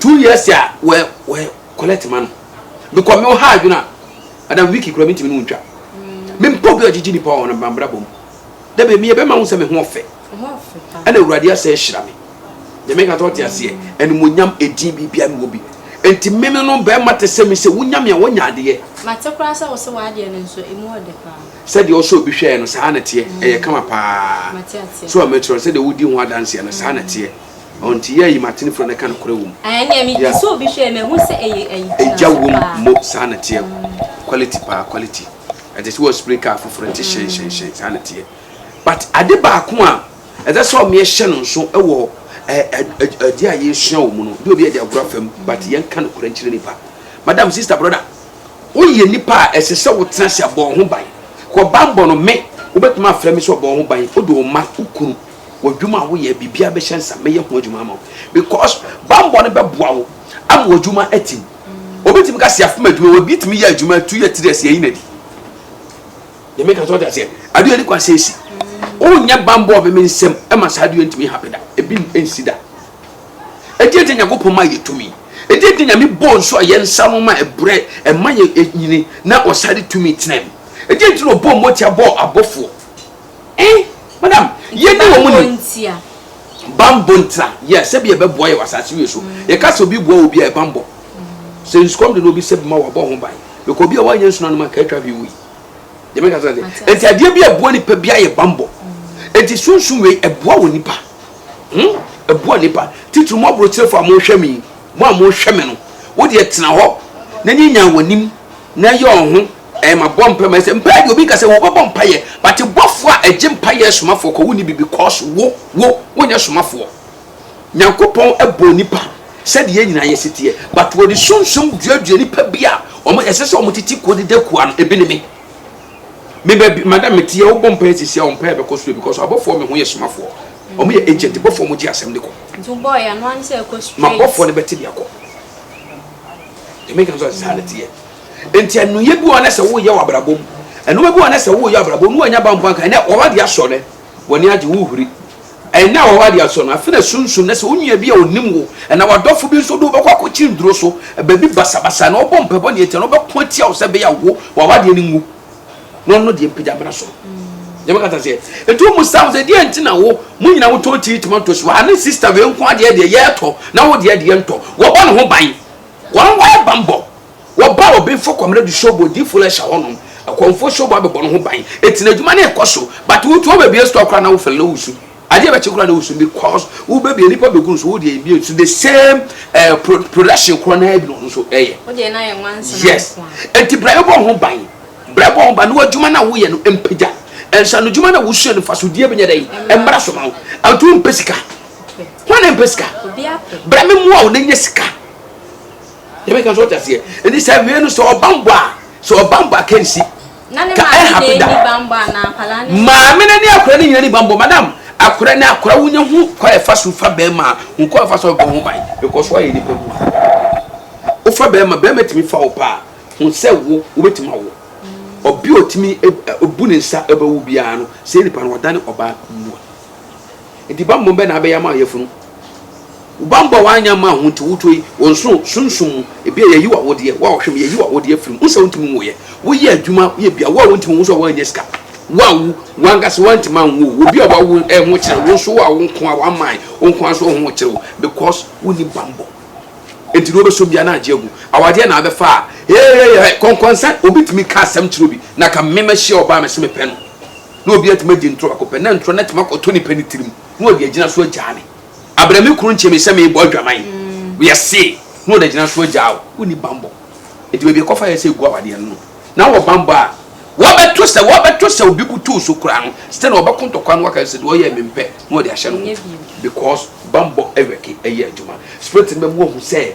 [SPEAKER 1] Two years a wɔ wɔ collect ma no because me wɔ ha adwene a madam Vicky kura mintimi ne ntwa me mpa obi ɔgyegye nipa wɔ na bambra bom da bɛ mi yɛ bɛma ho sɛ me ho ɔfɛ ɛna awurade asɛ ahyira me deɛ meka tɔ te aseɛ animonyam ɛdin biribia mewɔ bi nti me me no bɛrima te sɛ me sɛ wonya me a wonya adeɛ mate koraa sɛ wo se
[SPEAKER 2] w'adeɛ no nso ɛmu ɔde paa sɛdeɛ ɔsɛ obi
[SPEAKER 1] hwɛɛ no saa na teɛ ɛyɛ kama paa so a mɛkyerɛ sɛdeɛ wodi ho adanseɛ no saa na teɛ Ɔnti yɛ ayi ma atene fura na ka nokorɛ wom. Ɛneɛ me gye soo bi
[SPEAKER 2] hwɛɛ mahu sɛ ɛyɛ ayi tena so paa. Agya wom
[SPEAKER 1] mo saa na teɛ quality paa quality ɛte sɛ wɔspray car foforɔ ɛte hyɛn hyɛn hyɛn saa na teɛ but ade baako a ɛsɛ sɛ ɔmeɛ hyɛ no nso ɛwɔ ɛdeɛ a yɛsua wɔ mu no de obi ɛde agorɔ afam but yɛn ka nokorɛ nkyerɛ nipa madam sister brother woyɛ nipa a ɛsɛ sɛ wo tena se abɔ ho ban kɔ banbɔ no me wobɛtumi afrɛ me sɛ ɔbɔ ho ban wode wo ma wo kunu W'adwuma a woyɛ, biribiara bɛhyɛ nsa, mɛyɛ ho adwuma ama wo because bammɔ no bɛboa wo ama w'adwuma atim. Obi tumi ka sɛ yɛafom adwuma, obi tumi yɛ adwuma two years, three years, yɛyi no adi. Deɛ meka sɛ ɔde aseɛ, adeɛ ani kwan sɛ ɛsi. Wonyɛ bammɔ me me nsam ma saa adeɛ ntumi hape da, ebi nsi da. Ɛdeɛ nti Nyankopɔn ma yɛ tumi. Ɛdeɛ nti Nyame bɔɔ nsuo a yɛn nsa no ma ɛbrɛ, ɛma yɛ nyini na ɔsane tumi tena mu. Ɛdeɛ nti na ɔbɔɔ mmɔtia bɔɔ abɔfoɔ. Eh, madam, yɛ ni wɔn ni. Ntia. Bambɔ ntia. Yɛ sɛ bi yɛ bɛ bɔ yɛ wɔ asase wie so. Mm. Yɛ ka sɛ obi bɔ obi a yɛ bambɔ. Mm. Sɛ nsukɔm de na obi sɛ bi ma wabɔ ho ban. Bɛkɔ obi a wanyɛ nsu na nom anka atwa hwee wui. Yɛ mɛ ka sɛ sɛ. Eti adeɛ bi a ɛboa nipa bi ayɛ bambɔ. Mm. Eti sunsun wei ɛboa wɔ nipa. Hmm, ɛboa nipa. Titiri mo aburokyerefo a mo hwɛ mi, mo a mo hwɛ mi no, wo deɛ tena hɔ na nyi nyaa wɔ nim na yɛ ɔho. Ɛɛ mabɔ mpaeɛ ma ɛsɛ mpaeɛ deɛ obi nka sɛ wo bɛbɔ mpaeɛ but bɔfoɔ a ɛgye mpaeɛ somafoɔ kɔ wo nni bi because wo wo wo nyɛ somafoɔ Nyankopɔn bɔɔ nnipa sɛdeɛ yɛn nyinaa yɛsi teɛ but wɔde sunsum duadua nnipa bi a wɔn ɛsɛ sɛ wɔn titi kuo deda kuo ano ebi ne me me baabi madam me teɛ wo bɔ mpaeɛ sisi a wɔn mpaeɛ bɛkɔ soro because abɔfoɔ me ho yɛ somafoɔ wɔn yɛ agent bɔfoɔ wɔn gye asɛm de kɔ nti bɔɔ yɛ ano ano
[SPEAKER 2] sɛ ɛkɔ straight ma bɔfoɔ no bɛte de akɔ
[SPEAKER 1] ɛmɛ kan so ase saa ne teɛ. Enti nnuyɛ bi wɔ hɔ na sɛ woyɛ wɔ abrabɔ mu, nnoɔma bi wɔ hɔ na sɛ woyɛ wɔ abrabɔ mu na woannya bambɔ anka ɛnnɛ w'aba de asɔ nnɛ, w'ani agye, wohuri. Ɛnnɛ w'aba de asɔ no, afei na sunsum na sɛ onua bi a ɔnim wo anaa w'adɔfo bi nso de wo bɛkɔ akɔkye nnuro so, baabi basabasa na ɔbɔ mpaebɔ nea ɛtia no ɔbɛko atia wo sɛ ɛbɛyɛ a wo, w'aba deɛ no nwu na ɔno deɛ mpagya mmra soro. Nyame kata sɛ, enti wo mu sam sɛ deɛ nti na wo, mo nyina motɔn tea tomatoes wɔ ha ne sister wei nko ara deɛ deɛ yɛɛtɔ na wo deɛ deɛ ntɔ, wɔbɔ ne ho ban. Wɔn wɔyɛ banbɔ. Wɔba Obimfo Kɔmrɛ du Shobo Odiyifo Lɛhyɛ hɔ nom, Akɔmfoɔ Shobo abɛbɔ no ho ban, eti n'adwuma no rekɔ so, but wo too bɛbie store koraa na wo fɛl na wo su, adeɛ bɛkye koraa na wo su because wo bɛbie nipa bɛgu no so wo deɛ mbie nso the same eh, pro, production korɔ
[SPEAKER 2] naa bi na
[SPEAKER 1] ɔno nso ɛyɛ. Wo deɛ no ayɛ
[SPEAKER 2] nwansena Yes,
[SPEAKER 1] nko a. enti
[SPEAKER 2] brɛ
[SPEAKER 1] bɔ ho ban, brɛ bɔ ho ban na w'adwuma no a woyɛ no mpagya, nsanodwuma no a wosua no mfasodeɛ bɛnyɛ dɛn, mmra so ma wo, enti wompɛ sika. Hwan na mpɛ sika? Bra me mmoa wo na nya sika. Yɛ bɛka so ɔtaseɛ. Ɛni sɛ awie no sɛ ɔbambɔ a sɛ ɔbambɔ a kɛnsi. Ka
[SPEAKER 2] ɛhape da. Maame no ne akora no
[SPEAKER 1] nyina ni bambɔ. Madam, akora ne akora wonya hu kwa ɛfa so fa bɛrima a hu kwa ɛfa so bɛbɔ ho ban because woayɛ nipa mu a. Wofa bɛrima, bɛrima tumi fa wo paa hu sɛ wo wobɛtumi awo. Ɔbia ɔtumi bu ne nsa bɛwo biara no sɛ nipa no ɔdane ɔbaa mua. Enti bammɔ bɛ na abɛyɛ ama yafunu? Wo bammɔ a w'annyɛ amma ho nti woto yi wo nsoro sunsum mu, ebia yayi w'awodeɛ, wo a wohwɛ me yayi w'awodeɛ afiri mu, wonsɛ wontumi nwoyɛ, woyɛ adwuma yɛ bia wo a wontumi nwo nso a woannya sika, woawu, w'ankasa woantumi anwo wo, obi a wawo ɛho kyerɛ wo nso wo a wonko ara w'aman wonko ara nso ɛho kyerɛ wo because wonni bammɔ. Enti deɛ wobɛsom biara na agye agu, awadeɛ na abɛfa a, heeheehe, kɔnkɔnsa, obi tumi ka asɛm kyerɛ obi na ka me mahyia ɔbaa mese mepɛ no. na obi atumi agye ntoro baako pɛ, na ntoro no atumi akɔtɔ nipa ne tirim, na ɔde agyina so agyaa me. Abrɛ me kunu nkyɛ me sɛ merebɔ adwaman. Mm. Yɛ see, na ɔde agyina so agyaa wo. Wonni bammɔ. Enti baabi ɛkɔfa yɛ sɛ egu awadeɛ no no. Na wɔ bammɔ a, wɔbɛto sɛ wɔbɛto sɛ obi butuw so koraa no, still na wɔbɛko ntɔkwa no waka sɛ deɛ ɔyɛ me mpɛ, na ɔde ahyɛ no ho. Because bammɔ ɛwɛke ɛyɛ adwuma. Spirit no bɛma wahu sɛ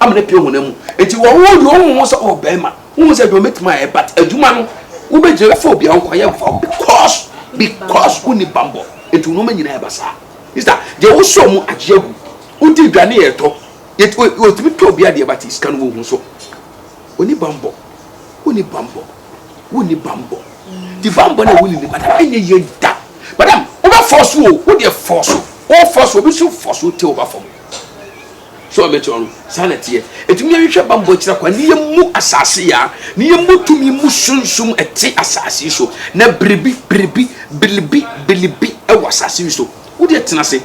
[SPEAKER 1] ama no apue wo honam mu. Nti wɔ wo deɛ wohu ho sɛ wɔ bɛrima, wohu sɛ adwuma mɛtumi ayɛ but adwuma no wobɛgyina bɛfa obi a wonkɔyɛ mfa wo because because wonni bammɔ nti wo nnoɔma nyinaa ɛba saa. Mister deɛ wosɔ mu agye agu, wodi aduane yɛ ɛtɔ, yɛt wɔ wɔtumi tɔ obi adeɛ but sika no wɔhu so ɔnni bammɔ, wonni bammɔ, wonni bammɔ nti bammɔ no a wonni no madam ɛnyɛ yie da madam wobɛfɔɔso o, wodeɛ fɔɔso, wofɔɔso obi nso fɔɔso wo tɛ wo ba fam. So wɔbɛte ɔno? Saa na ɛteɛ. Enti monyɛnhwehwɛ bammɔ akyiri akwan, na yɛmmu asase yi a, na yɛmmɔ tumi mmu sunsum ɛte asase yi so, na biribi, biribi, biribi, biribi wɔ asase yi so. Wo deɛ tena ase,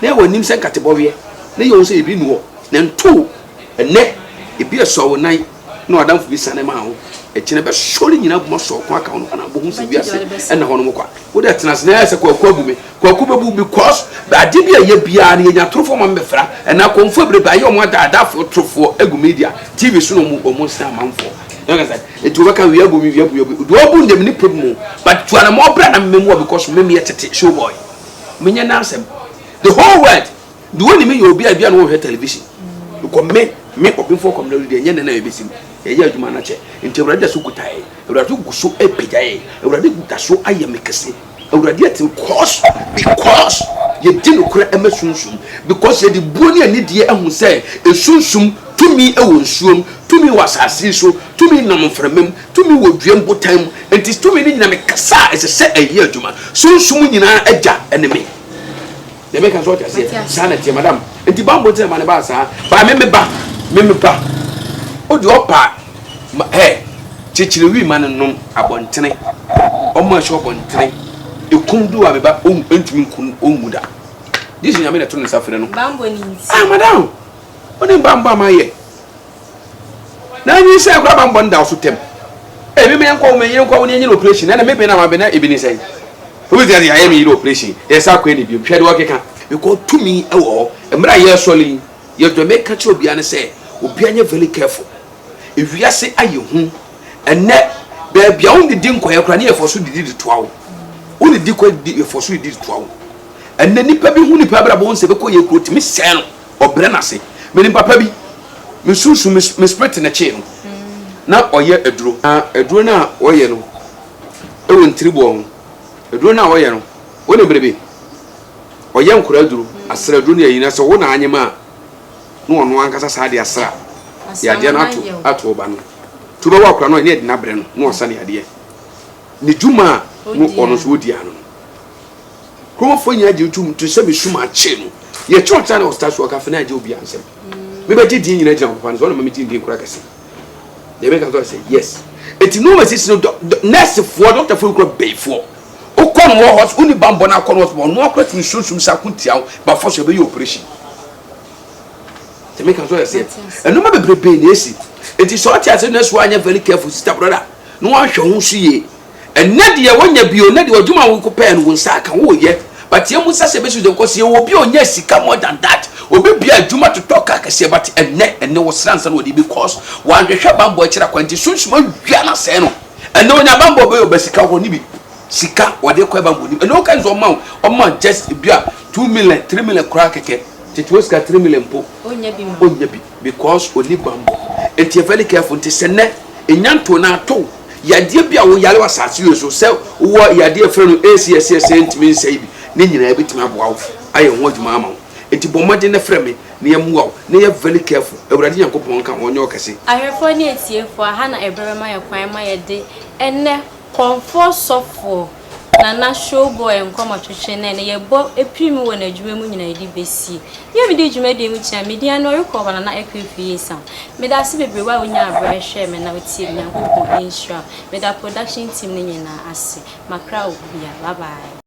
[SPEAKER 1] na yɛ w'anim sɛ nkatebɔweɛ, na yɛ wo sɛ yɛbi nni hɔ, na nto wo. Ɛnnɛ, ebi asua wo nan. na w'adamfo bi siane maa wo, ɛkyena bɛsɔ ne nyina boma sɔɔ ko aka wo no ana bohu sɛ wiase ɛna hɔ nom kwa wo dɛ tena sena ɛsɛ kwaku abu me kwaku bɛbu because ade bi a yɛ biara no yɛnya torofoɔ ma mbɛfra ɛna akɔmfoɔ ɛbrebe ayɛ ɔmo ada adafoɔ torofoɔ egu media tv so na ɔmo ɔmo nsena amanfoɔ ɛti wɔbɛka wia bu me wia bu me wia bu deɛ ɔbu ndɛm nipa bi mu but tuana ma ɔbra na mmɛmu wa because mmɛmu yɛ tete showboy menyɛ nansɛm the whole world The only me yɛ obi a ebi a na wɔhwɛ television because me me ɔbɛnfo kɔm na ɔdi ɛnyɛ nana yɛ bɛsi mu yɛyɛ adwuma no akyɛ nti awurade da so kuta yɛ awurade gu so apagya yɛ awurade da so ayɛ me kɛse awurade ati because because yɛdi nokorɛ ɛma sunsum because yɛde buo ne anidie ahu sɛ esunsum tumi wɔ nsuom tumi wɔ asase so tumi nam mframa mu tumi wɔ dua mbotan mu nti tumi no nyina mekasa a ɛsɛ sɛ ɛyɛ adwuma sunsum nyinaa agya ɛne me Deɛ meka so ɔte aseɛ saa na ɛteɛ madam nti bible nti na ma ne baa saa baa me me ba me me ba o deɛ ɔpa ɛ kyekyere wi ma no nom abɔntene ɔmo ɛhyɛ ɔbɔntene ekum du a me ba ɔn ntumi nkun ɔnwu da yesu nyame na ɛto ne nsa frɛ no ah
[SPEAKER 2] madam
[SPEAKER 1] ɔne mbambɔ a ma yɛ. Na nyinsɛn koraa bammɔ no da so tɛm. Ee, me menkɔ wo, me yere nkɔ wo, na yɛnyɛ no operation. Ɛna me bɛn na mabɛn na ebi ne sɛn. Obi te ase, yɛayɛ me yere operation, yɛsan kɔɛ no bio. Hwɛ deɛ ɔkeka. Because tumi wɔ hɔ. Mmerɛ a yɛresɔre yi, yɛ deɛ meka kyerɛ obiara ne sɛ, obiara nyɛ very careful. Ewiase ayɛ hu. Ɛnnɛ, baabi a wonnidi nkɔɛ koraa no yɛfɔ so didi de toa wo. Wonnidi kɔ, yɛfɔ so didi de toa wo. Ɛnnɛ, nipa bi hu nipa abrabɔ, wohu sɛ bɛkɔ yɛ kuro, tumi sɛɛ no. ɔbrɛ n'ase. Menim papa bi, me sunsum, me me spirit na ɛkyee no. Na ɔyɛ aduro. Na aduro no a ɔyɛ no wɔ ntiriboɔ ho. Aduro no a ɔyɛ no, wonim bere bi, ɔyɛ nkwadaa aduro, asra aduro ne ayi, na sɛ ɔwo na anyem a, na ɔno ankasa saa de asra de adeɛ no ato ato ɔba no. Nti wobɛwo akwadaa no a, ɛne ɛde no abrɛ no, na ɔsa ne adeɛ. Ne dwuma a na ɔno nso ɔdi ano no. Kuromfoɔ nyinaa gyee tom to sɛ mesum akyee no. Yɛ kyerɛw tra ne ɔsta so ɔka fena agye obiara nsɛm. Me bɛ gye din nyinaa gyina ɔpapa no so ɔna ma me gye din kora kɛse. Deɛ me ka kɔ sɛ yes. Eti no ma sisi no dɔ nurse foɔ doctor foɔ kura bɛyi foɔ. Okɔ no wɔ hospital uni bambɔ na akɔ no hospital ɔno akora tumi sum sum sa ko tia ho ba fɔ so ɛbɛyɛ operation. Deɛ me ka kɔ sɛ ɛno ma bebrebe na esi. Eti sɛ ɔte ase nurse foɔ anyɛ very careful sister brother no wɔn ahwɛ ho so yie Ɛnɛ deɛ wonya bi o, ɛnɛ deɛ adwuma a wokɔ pɛɛ no wo nsa aka, woyɛ, but yɛn mu nsa sɛ ɛbɛsi wo sɛ because yɛwɔ obi a ɔnya sika more than that, obi bia adwuma totɔ car kɛseɛ but ɛnɛ, ɛnɛ ɔsra ansa na ɔde bi cause wanhwehwɛ banbɔ akyiri akwan nti sunsum awia no asɛe no, ɛnɛ ɔnya banbɔ ɔbɛyɛ ɔba sika wɔ hɔ no bi, sika ɔde kɔɛ banbɔ ɔnim, ɛnɛ woka no sɛ ɔma wo, ɔma wo just ebia two million, three million koraa kɛkɛ, tete hɔ sika three million mpo ɔnya bi. Because ɔnni bammɔ. Nti yɛ very careful. Nti sɛ nnɛ ɛnya ntoo no ara tow yadeɛ bi a wo yare wɔ asase wei so sɛ wowɔ yadeɛ a yɛfrɛ no ACSCS a ntumi nsɛe bi ne nyinaa ɛbɛtumi aboa wo ayɛ ho adwuma ama wo. Nti bɔ mmɔden na frɛ me na yɛmmoa wo na yɛ very careful. Awurade Nyankopɔn nka wo. Ɔnyɛ ɔkɛse. Ahwɛfoɔ ne atiefoɔ,
[SPEAKER 2] aha na ɛberɛ bɛma yɛn kwan ma yɛde ɛnnɛ. Kɔmfoɔ Sɔfoɔ Nana Showboy Nkɔmɔtwetwe nɛ no yɛbɔ pirim wɔ n'adwuma mu nyina yɛde bɛsi yɛ mede dwumadie mu kyea me din ane ɔrekɔ hɔ Nana Akuafi Yesam medase bebree wo a wonya aberɛ hwɛɛ me na wotiee me Nyankopɔn nhyira wo meda production team no nyinaa ase makra wo bia bye bye.